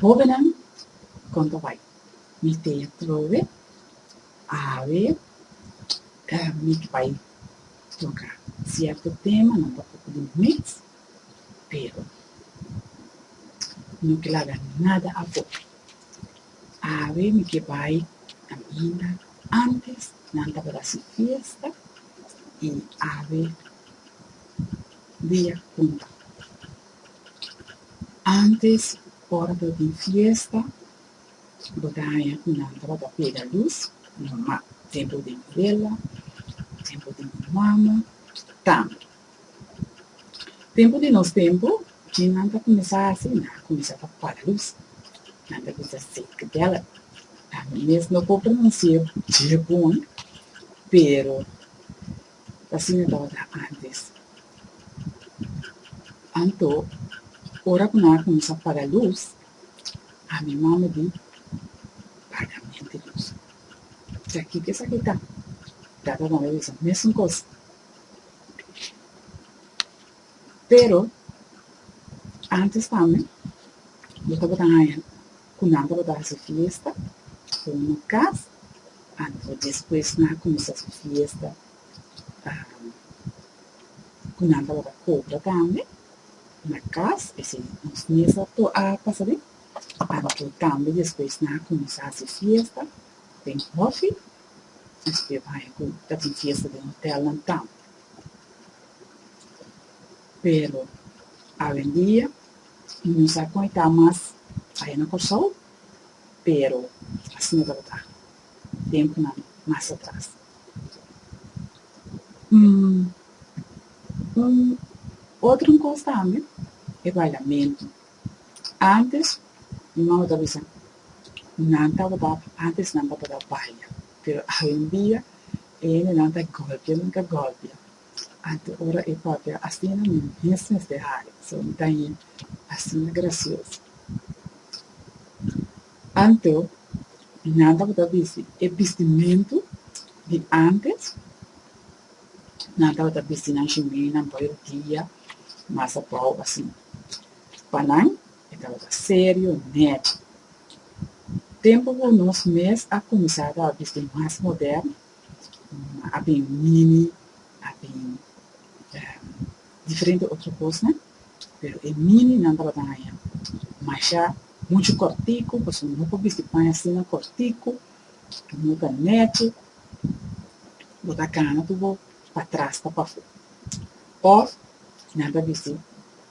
Hobennan kon ta bai? Mi teña trobe awe mi ta bai toka sierto tema, nan ta poko di mes, pero no kel laga nada afo. Awe mi ke bai kaminda, antes nan tabata sin fiesta, i awe. Dia punta. Antes ora ta tin fiesta bo ta haña cu nan tabata pega luz normal, tempo di vela, tempo di mama, tambe. Tempo di nos tempo djin nan ta cuminsa haci? Nan a cuminsa ta paga luz, nan ta bisa safety belt, ami mes no por pronuncia dje bon pero ta siña tabata antes. Anto, ora ku nan a kuminsá paga lus, ami mama di paga mente lus. Sa kiko esaki ta? Tata manda bisa mesun kos. Pero, antes pa mi, bo tabata haña ku nan tabata hasi fiesta ku un okas anto despues nan a kuminsá su fiesta ku nan tabata kobra tambe na kas esei nos mes a pasa den anto tambe despues nan a kuminsá hasi fiesta den hòfi nos por bai haña ku ta tin fiesta den hotèlnan tambe pero awendia Mi sa kon e ta mas aya na Kòrsou, pero así no tabata tiempunan mas atras. Un otro kos tambe e Parlamento. Antes mi mama ta bisa nan tabata, antes nan tabata baya, pero awendia e hendenan ta gòlpia, nan ta gòlpia. Ante ora e papia asina mi mes mester hari, so mi ta yin asina gracioso. Anto mi nan tabata bisti e bistimentu di antes, nan tabata bisti nan shimenan pa e dia mas abao asina. Pa nan e tabata serio nechi. Tempo cu nos mes a cuminsa tabata bisti mas moderno, a bin mini, a bin diferente otro cosnan, pero e mini nan tabata haña masha mucho cortico, pasobra nan no por bisti paña asina cortico, no ta nechi, bo ta gana tur bo pa tras ta pafó. Of nan ta bisti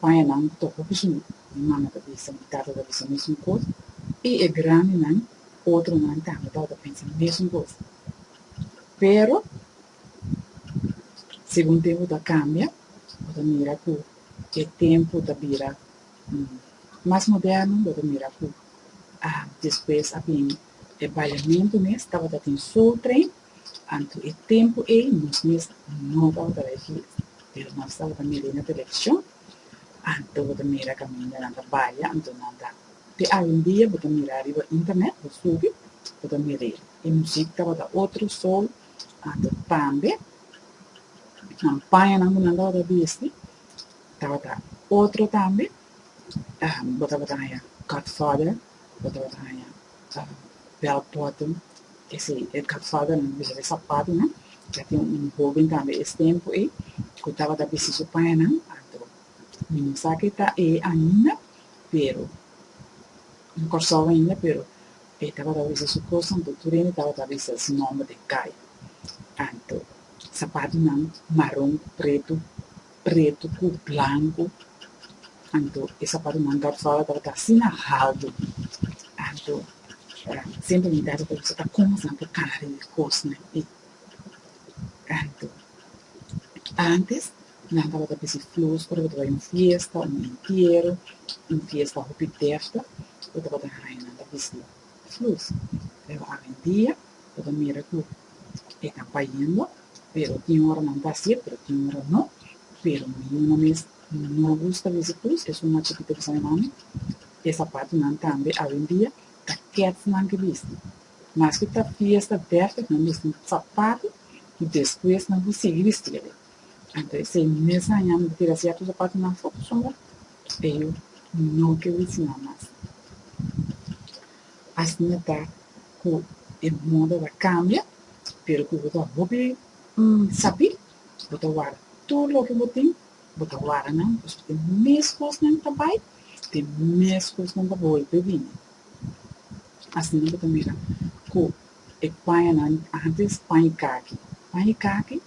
paña nan tokobisnan, mi mama ta bisa, mi tata ta bisa mesun cos, y e grandinan Otronan tambe lo ta pensa e mesun kos. Pero, segun tempu ta kambia, bo ta mira ku e tempu ta bira mas moderno, bo ta mira ku despues a bini e bailementu mes, tabata tin Soul Train, anto e tempu ei nos mes no tabata bai fiesta, pero nos tabata mira na televishon, anto bo ta mira kaminda nan ta baila, anto nan ta. Te awendia bo ta mira riba internet, bo subi, bo ta mira e muzik tabata otro soul ato tambe nan pañanan ku nan tabata bisti tabata otro tambe bo tabata haña godfather bo tabata haña bell bottom esei e godfather nan ta bisti di sapatunan ya tin un hoben tambe es tempu ei ku tabata bisti su pañanan ato Mi no sa ke ta e ainda, pero no Kòrsou ainda, pero e tabata wisa su kos anto tur hende tabata wisa su nòmber den kai. Anto sapatunan maron ku pretu, pretu ku blanku, anto e sapatunan Kòrsou tabata asina haldu. Anto semper mi tabata wisa ta kon asan por kari e kosnan ei. Anto antes Nan tabata pisti flus ora bo ta bai un fiesta, un entiero, un fiesta hopi defti, bo tabata haña nan ta bisti flus. Pero awendia bo ta mira ku e ta bayendo, pero tin ora nan ta hasié, pero tin ora no. Pero mi yuna mes no gusta bisti flus, e suma chikito di San Juan, e sapatunan tambe awendia ta kèts nan ke bisti. Maske ta fiesta defti nan bisti un sapatu i despues nan por sigui bisti'e. Anto esei e mes aña mi ta tira sierto zapatonan for ku sombra e yu no ke witz nan mas. Asina ta ku e moda ta kambia, pero ku bo ta hopi sabi bo ta wara tur loke bo tin, bo ta wara nan pasobra e mes kosnan ta bai, e mes kosnan ta bolbe bini. Asina bo ta mira ku e pañanan, antes paña i kaki, paña i kaki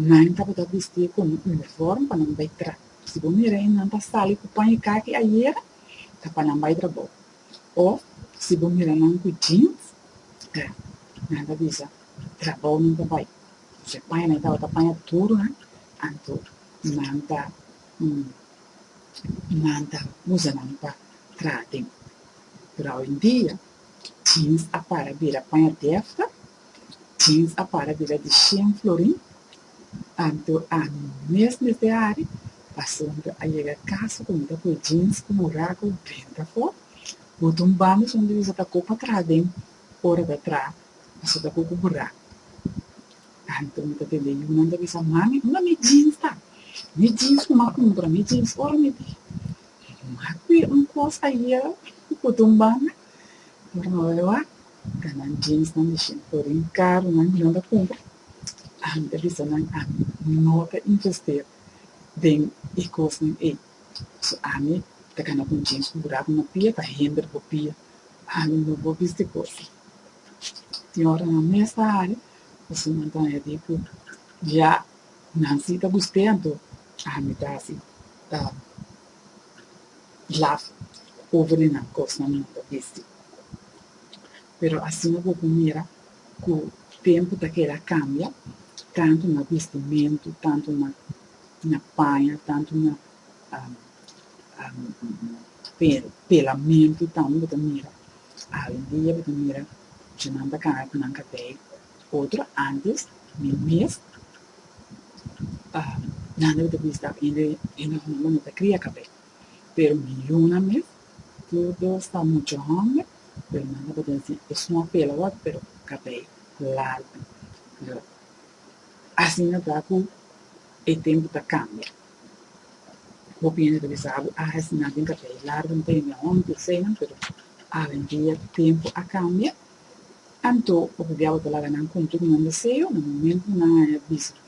Nan tabata bistí ku un unifòrm pa nan bai trabou. Si bo mira e nan ta sali ku pan i kaki ayera, ta pa nan bai trabou. Òf si bo mira nan ku jeans, ta nan ta bisa trabou nan ta bai. Si e paña nan e tabata paña tur nan, anto nan ta nan ta usa nan pa traha tempu. Pero awendia, jeans a para bira paña dèfta. Biz a para bira di shen florin, tantu ami mes mester ari, pasobra a yega kas ku mi ta kue jeans ku muraku drenta afó, bota un banda son di biz a ta kop atras den ora ta tra, paso ta koko buraku. Tantu mi ta tende yunan ta bisa, Mami, unda mi jeans ta? Mi jeans ku m'a kumpra, mi jeans ora mi di m'a kue un kos ayera, bota un banda. Ora nan wak wak ta nan jeansnan di shin fori un karunan ku nan ta kumpra. Ami ta bisa nan ami no ta investir den e kosnan ei. So ami ta kanda ku un jeans ku ku dal ku nan pia, ta hender bo pia. Ami no por bisti ku aki. Tin ora nan mes ta hari pasobra nan hasi ku ya nan si ta gusté anto ami ta hasi. blaf over di nan kosnan di nan ta bisti. Pero asina ku bo por mira ku tempu ta keda kambia, tantu na bistimentu, tantu na na paña, tantu na pelamentu tambe bo ta mira. Awendia bo ta mira dje nan ta kaba ku nan kabei. Otro antes mi mes a Nando lo ta bisa ta hende e nos mama no ta cria cabé pero mi Yuna mes todo sta mucho homber pero nan ta pueda si esun a pela awor pero cabé largo lo asina ta cu e tempo ta cambia bo piensa ta bisa abo a asina den cabé largo no ta yende homber senan pero awendia tempo a cambia. Anto ora di awe ta laga nan kumpli ku nan deseo, na momento ku nan a haña bisti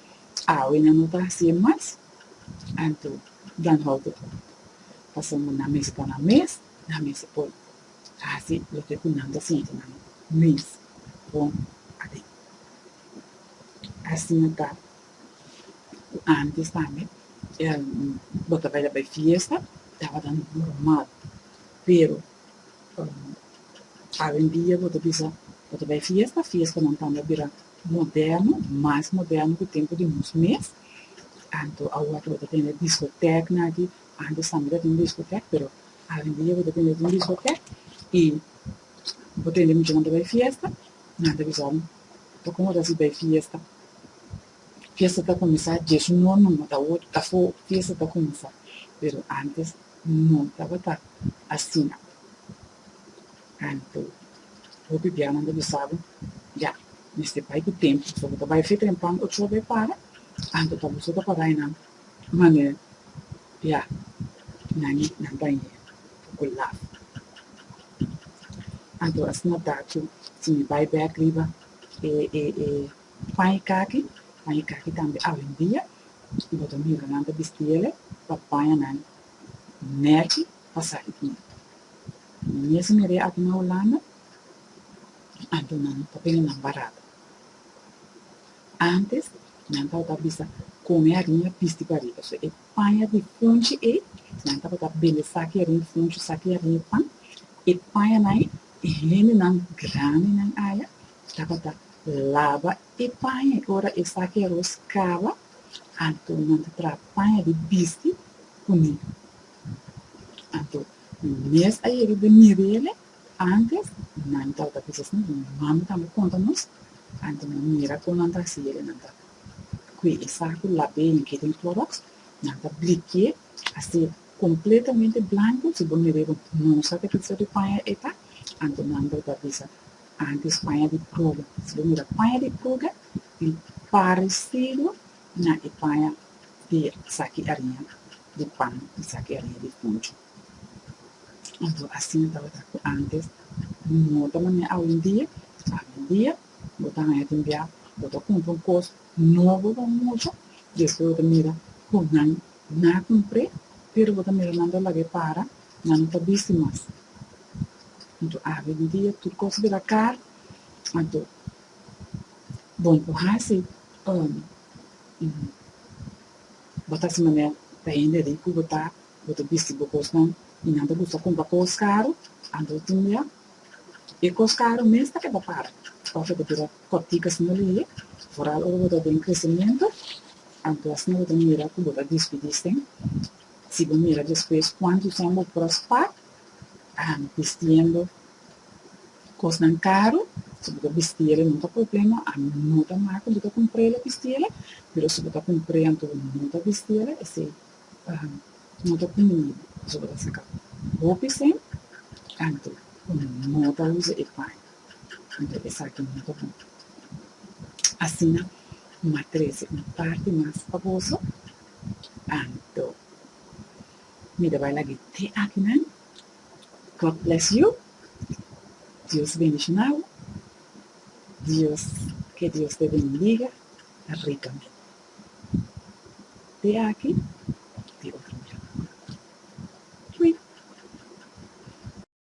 awe nan no ta haci'e mas, anto dan hou ku por. Pasobra nan mester por nan mes, nan mester por haci loke ku nan ta sinti nan mes bon aden. Asina ta ku antes tambe, bo ta bai la bai fiesta, tabata normal, pero. Awendia bo ta bisa bo ta bai fiesta, fiestanan tanda a bira moderno, mas moderno ku tempu di nos mes. Anto awa ta bo ta tende diskotèknan aki, antes tambe ta tin diskotèk pero awendia bo ta tende tin diskotèk i bo tende muchanan ta bai fiesta nan ta bisa bo ta kon ora si bai fiesta. Fiesta ta kuminsá djesun nor numa ta wor afó fiesta ta kuminsá pero antes no tabata asina anto hopi bianan ta bisaba ya mester bai ku tempu pasobra bo ta bai afeta den pan ochoa bai para anto ta boso ta para enan manera ya nan nan bai e poko laf anto asina ta ku si mi bai bek riba e e e Pan i kaki, Pan i kaki tambe awendia, i bo ta mira nan ta bisti el'e pa paña nan nèki pa sali di nèki. I mes meri aki na Hulanda, antes nan ta tene nan barato. Antes nan tabata bisa kome ariña bisti pariba. So e paña di funchi ei, nan tabata bende saki ariña funchi, saki ariña pan. E pañanan ei, e hendenan grandinan aya. Tabata laba e paña i ora esaki aros kaba, anto nan ta traha paña di bisti ku niño. Anto mes a yega den Mirele, ántes nan tabata bisa asina, mi mami tambe konta nos, anto nan mira kon nan ta hasi el, nan ta kue e sak ku lab'é i mitié den kloroks, nan ta blikié hasié kompletamente blanku, si bo mir'é bo no sa te kisa di paña e ta, anto nan tabata bisa Antes paña di pruga. Si bo mira paña di pruga i paresidu na e paña di saki ariña di pan i saki ariña di kunchu. Anto asina tabata ku antes, no ta manera awendia. Awendia bo ta haña tin bia bo ta kumpra un kos nobo pa mucha i despues bo ta mira ku nan Na cumpre, pero bo ta mira nan ta laga e para, nan no ta bisti mas. Anto awe di dia tur cos bira car, anto bon cu haci um bo ta haci manera pa hende ricu bo ta, bo ta bisti bo cosnan y nan ta gusta cumpra cos caro, anto tin bia e cos caro mes ta keda para of e ta bira Kòptikas no lili, foral ora bo ta den kresimiento, anto asina bo ta mira ku bo ta dispidisten. Si bo mira despues kuantu tempu bo por a spa bistiendo kosnan karu, si bo ta bisti el no ta problema, a no ta mal ku bo ta kumpr'é el a bisti el, pero si bo ta kumpr'é anto bo no ta bisti el, esei no ta kumbiní pasobra bo ta saka hopi sen anto bo no ta usa e paño. Anto esaki no ta bon. Asina N a trese un parti mas pa boso. Anto mi ta bai lag'e te aki nan. God bless you. Dios bendishonáu. Dios ke Dios ta bendiga rikamente. Te aki di otro miércoles. Fui.